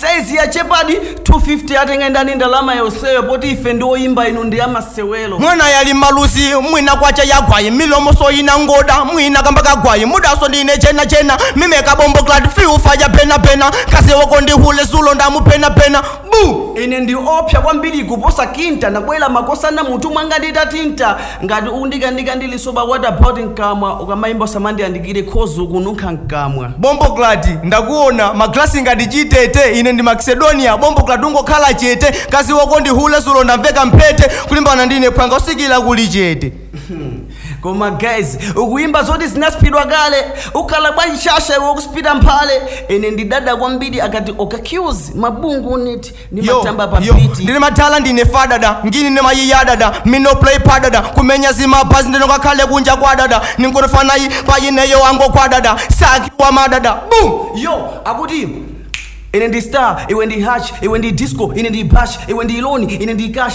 Saizi yachepadi 250 atenge ndani ndalama yonseyo poti ife ndi oyimba inu ndi amasewelo. mwana yali maluzi mwina kwacha yagwayi milomoso yina ngoda mwina kamba kagwayi mudaso ndine chena chena mimeka bomboclat fiu faja pena pena kazi wako ndi hule zulo ndamu pena pena bu Ine ndi opsa kwambiri kuposa kinta nakwela makosana mutu mwanga nditatinta Ngati undikandika ndi lisoba what about mkamwa ukamaimba usamandiyandikire coz ukununkha mkamwa bomboclat ndakuona ma glass ngati chitete ine ndi maxedonia bomboclat ungokhala chete kazi wako ndi hule zulo ndamveka mphete kulimbana ndine phwanga usikila kuli chete Koma guys ukuimba zoti zinaspidwa kale ukhala bwanji shasha ukuspita mphale ine ndidada kwambiri akati okaccuse mabungu unit ndimatamba pa yo beat ndine madala ndine fadada ngini ne mayiyadada mino play padada kumenya zimabhazi ndinongakhale kunja kwadada ninkongofanayi payineyo angokwadada sakiwa madada bum yo akuti ine ndi star iwe ndi hatch iwe ndi disco ine ndi bash iwe ndi loan ine ndi cash